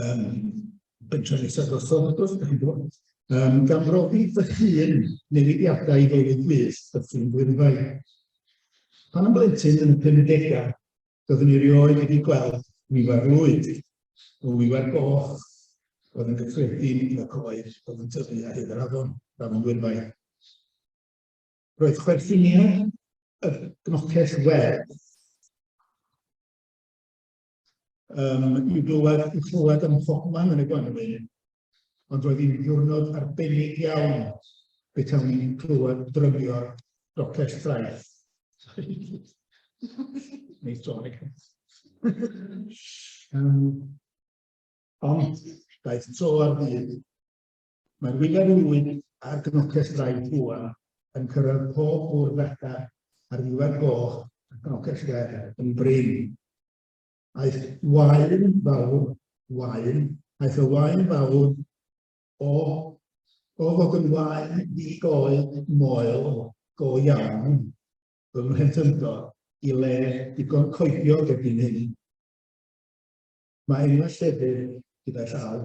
um, bensiwn eithaf drosodd, wrth gwrs, chi'n gwybod. Um, gan brofi fy hun newidiadau i fywyd gwych y ffyn gwirfau. Pan yn blentyn yn y 50au, byddwn i rioed wedi gweld wiwer lwyd o wiwer goch oedd yn gyffredin yn y coed oedd yn tyfu ar hyd yr afon, afon gwirfau. Roedd chwerthiniau y gnocell werdd um, i glywed, i chlywed ym mhobman yn y gwanwyn, ond roedd hi'n ddiwrnod arbennig iawn betawn ni'n clywed drymio'r docell ffraeth. Neu tonic. um, ond daeth tro ar ddydd Mae'r wyneb yn ŵyn a'r gnoces draed buan yn cyrraedd pob bwrdd fetr a'r ddiwedd goch a gnoces fer yn brin. Aeth waen fawr, waen, aeth y waen fawr o, o fod yn waen ddi-goed moel go iawn fy mhlentyndod i le digon coediog erbyn hyn. Mae enwau llefydd gyda llaw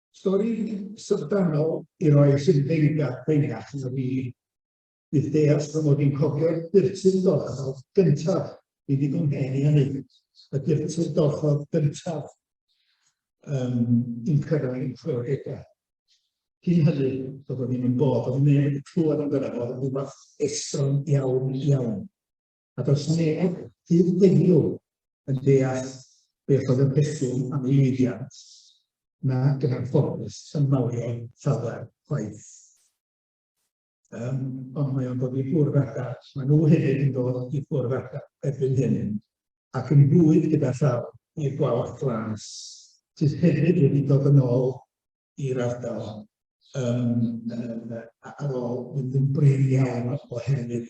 Stori syfrdanol i roi sy'n feirgad pengach na fi. Bydd deall fy mod i'n cofio'r dyrtyn dorchodd gyntaf i ddigon hen i hynny. Y dyrtyn dorchodd gyntaf um, i'n cyrraedd yn chwioregau. Cyn hynny, doedd o ddim yn bod, oedd neb wedi clywed amdano fo, oedd rhywbeth estron iawn, iawn. a does neb, hyd heddiw, yn deall beth oedd y pethwm am ei lwyddiant, nac yn anffodus yn mawrion llawer chwaith. Um, ond mae o'n dod i ffwrdd adar, mae nhw hefyd yn dod i ffwrdd adar erbyn hyn, ac yn bwyd gyda llaw i'r gwalch glas, sydd hefyd wedi dod yn ôl i'r ardal um, ar ôl mynd yn brin iawn oherwydd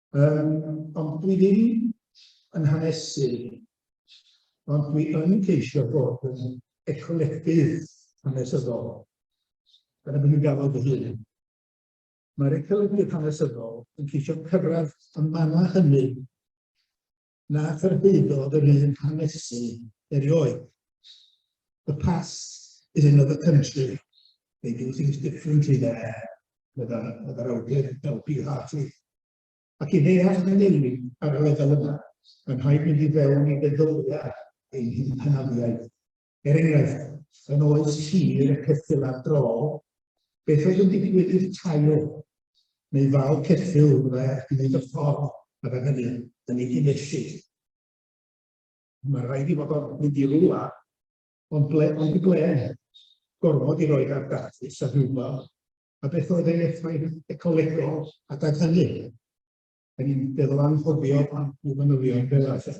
Um, ond dwi ddim yn hanesu, ond dwi yn ceisio bod yn ecolegdydd hanesyddol. Dyna beth dwi'n gafodd fy hun. Mae'r ecolegdydd hanesyddol yn ceisio cyrraedd y mannau hynny na chyrhaeddodd yr un hanesu erioed. The past is another country. They do things differently there, meddai'r awdur Elby Hartley. Ac i ddeall na newid ar y lefel yna, mae'n rhaid mynd i fewn i feddylfa ein hanafiaeth. Er enghraifft, yn oes tir y ceffylau drol, beth oedd yn digwydd i'r tail? Neu fal ceffyl fyddai ar hyd y ffordd a fe hynny yn ei gynellid. Mae rhaid i fod o'n mynd i rwla, ond ble, ond i ble? Gormod i roed ar dathus a rhywbeth, a beth oedd ei effaith ecolegol adeg hynny? Da ni'n feddwl anghofio am y manylion fel arfer.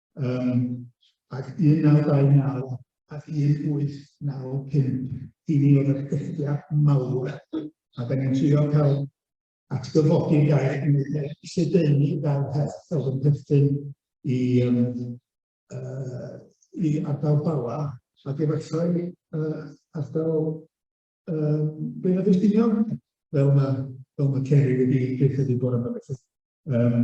um, ac 1929 ac 1895 i ni oedd y cylltiad mawr a da ni'n trio cael atgyfodi gair yn ei le, lledaenu fel peth fel yn perthyn i, um, uh, i ardal Bala ac efallai uh, ardal um, Beirdd Ystiniog fel mae, fel mae Ceri wedi dweud wedi bod yma felly. Um,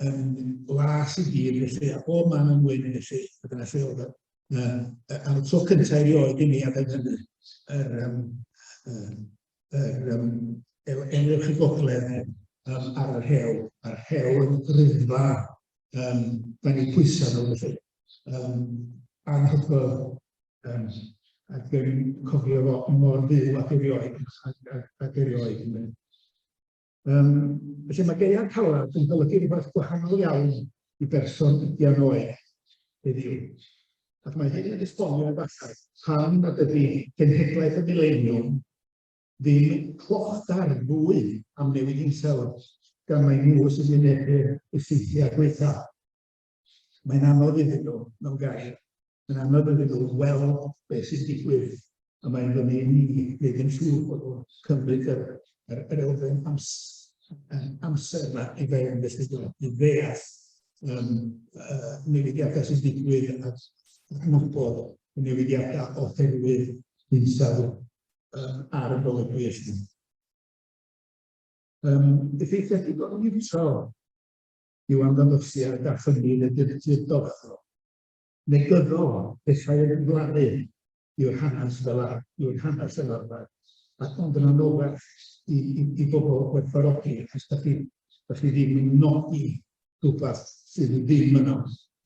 yn las i gyd felly, a bob man yn wyn felly, a dyna lle oedd e. Am y tro cyntaf erioed i mi a ben hynny, yr, um, yr, um, enwch y gogledd um, ar yr hewl, a'r hewl yn rhyddfa, um, da ni pwysau nhw felly. Um, anhygoel, um, ac yn cofio fo mor fyw ac erioed, ac, ac, ac erioed. Um, felly mae gaeau calad yn golygu rhywbeth gwahanol iawn i berson ydian oed heddiw. Ac mae hyn yn esbonio efallai pam nad ydy genhedlaeth y mileniwm ddim clochdair fwy am newid hinsawdd gan mae nhw sy'n wynebu'r effeithiau gweitha. Mae'n anodd iddyn nhw, mewn gair, mae'n anodd iddyn nhw weld beth sy'n digwydd, a mae'n fyny i ni wneud yn siŵr bod nhw'n cymryd yr, yr, yr elfen amser, amser yma i fewn, felly i ddeall um, uh, newidiadau sy'n digwydd a adnabod y newidiadau oherwydd hinsawdd um, ar y golygwy eich Um, effeithiau digon niwtral yw amddanosiad a chynnydd y dyrtir dorfol. Negyddol, pethau yn ymglaru yw'r hanes fel a yw'r hanes fel arfer, ac ond yn anoddach i, i, i bobl gwerthfawrogi, achos da chi, da chi ddim yn nodi rhywbeth sydd ddim yno,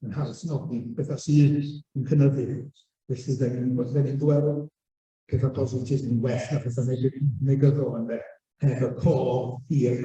yn haws nodi bethau sydd yn cynyddu. Felly, da ni'n ni gweld pethau positif yn well na pethau negyddol yn dde, heb y cof hir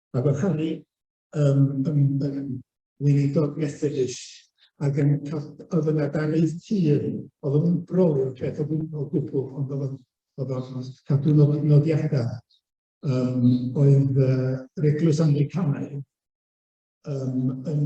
a bod Harry yn, yn, yn weinidog Methodist ac yn oedd yn adaraeth tir, oedd yn brolio'r peth o gwbl, gwbl ond oedd oedd o'n cadw nod, nodiadau. Um, oedd uh, yr eglwys Anglicanaidd um, yn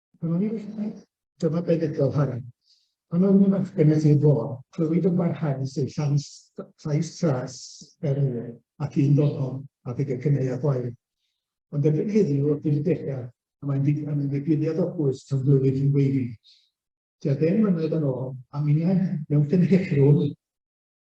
Pan o'n i'n uchel, dyma be ddedodd Harry. Pan oeddwn i'n fachgen at ei fôr, clywid yn barhaus ei llais, llais tras er nwy, ac un ddonom a ddig y cyneu a gwair. Ond erbyn heddiw, wrth i'r degau, a mae'n ddigwyddiad o bwys tan flwyddyn yn weiddi. Tua deng mlynedd yn ôl, a minnau mewn cynhyrchrwm,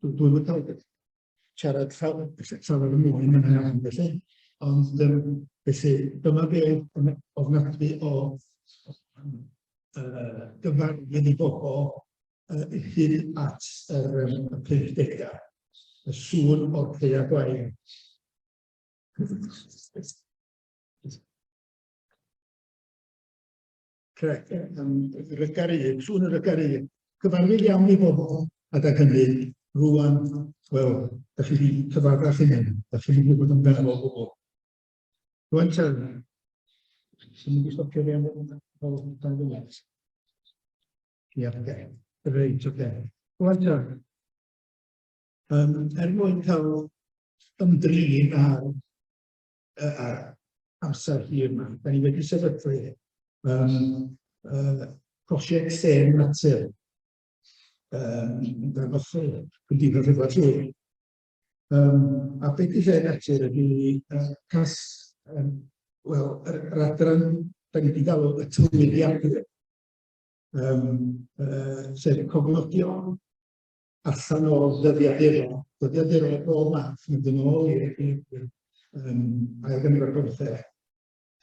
Dwi'n dwi'n yn cael siarad llawn, llawn yn mwy yn yna iawn felly, ond um, felly dyma be yn ofnadwy o uh, gyfarwydd i bobl uh, hyd at yr um, 50 y sŵn o'r ceia gwael. Correct. Rygaru, sŵn y rygaru. Cyfarwydd iawn i bobl, a da hynny, rwan, wel, da chi wedi cyfarfach i hyn, da chi wedi bod yn benol o bobl. Rwan, ta, sy'n mynd i stopio fi am fel dan ddiwedd. Ie, oce. Reit, oce. Rwan, ta, um, er mwyn cael ymdrin ar uh, amser hir yma. Da ni wedi sefydlu um, uh, prosiect Sen Natur um, dan ochr Cymdeithas Edward Llwyd. Um, a beth i Sen Natur ydy uh, cas, um, wel, yr, yr adran, da ni wedi galw y tywydiadau, um, uh, sef cofnodion allan o ddyddiaduron, ddyddiaduron o bob math, mynd yn ôl i'r eglwydwyr, um, ail gynnig o'r gorffeg,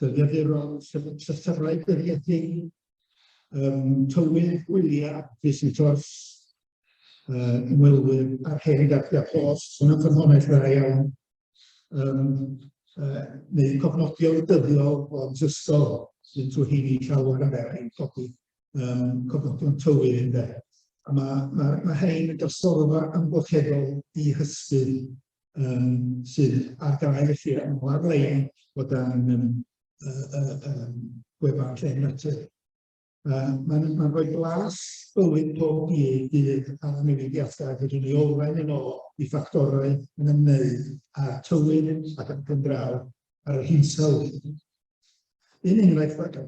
dyddiaduron, llythyrau dyddiadu, um, tywydd, gwyliau, visitors, uh, ymwelwyr, a'r hen gadwia pos, sy'n yn ffynhonell dda iawn, um, uh, neu cofnodion dyddiol o'n ysgol, sy'n trwy hyn i llawer yn fer i'n codi um, cofnodion tywydd ynde. A mae, ma, ma hein yn drosolfa amgylcheddol i hysbydd um, sydd ar gael i chi yn o'r lein o dan um, uh, uh, um, gwefan lle natur. Uh, Mae'n ma rhoi glas bywyd pob un dydd ar y newidiadau a rydyn ni olwen yn ôl i ffactorau yn ymwneud â tywydd ac yn gymdraw ar yr hinsawdd. Un enghraifft ar gael.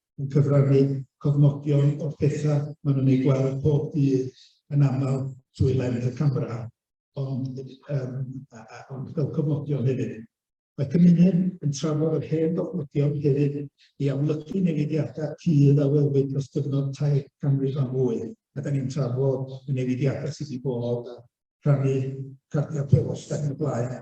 yn cyfrannu cofnodion o'r pethau maen nhw'n eu gweld pob dydd yn aml trwy lens y camera, ond, um, a, a, ond fel cofnodion hefyd. Mae cymuned yn trafod yr hen gofnodion hefyd i amlygu newidiadau cudd a welwyd dros gyfnod tair canrif a mwy, a da ni'n trafod y newidiadau sydd wedi bod a rhannu cardiau pelos ac yn y blaen.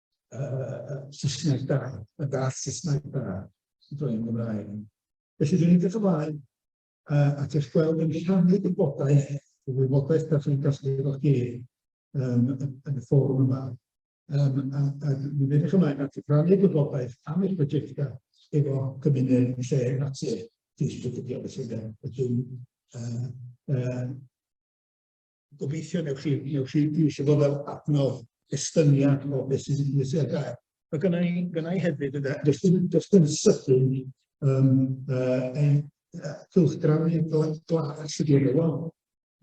uh, Saesneg da, a da Saesneg da, sy'n dweud yn Gymraeg. Felly dwi'n edrych ymlaen uh, at eich gweld yn rhannu gwybodaeth, y wybodaeth da chi'n gallu efo chi um, yn y fforwm yma. Um, a, a dwi'n edrych ymlaen at rhannu gwybodaeth am eich prosiectau efo cymuned lle natur. Dwi'n siarad felly, felly uh, uh, Gobeithio newch chi, newch chi eisiau bod fel adnodd estyniad o beth sy'n sy'n sy'n sy'n gael. Mae gynna i, gynna i hefyd, ynda, does dim, does dim sydyn um, uh, ein uh, cylchgrawn i'r glas ydy yn y wal.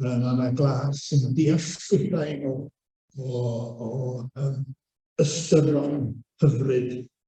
Um, a mae glas yn deall llwybrau o, o, o um, ystyron hyfryd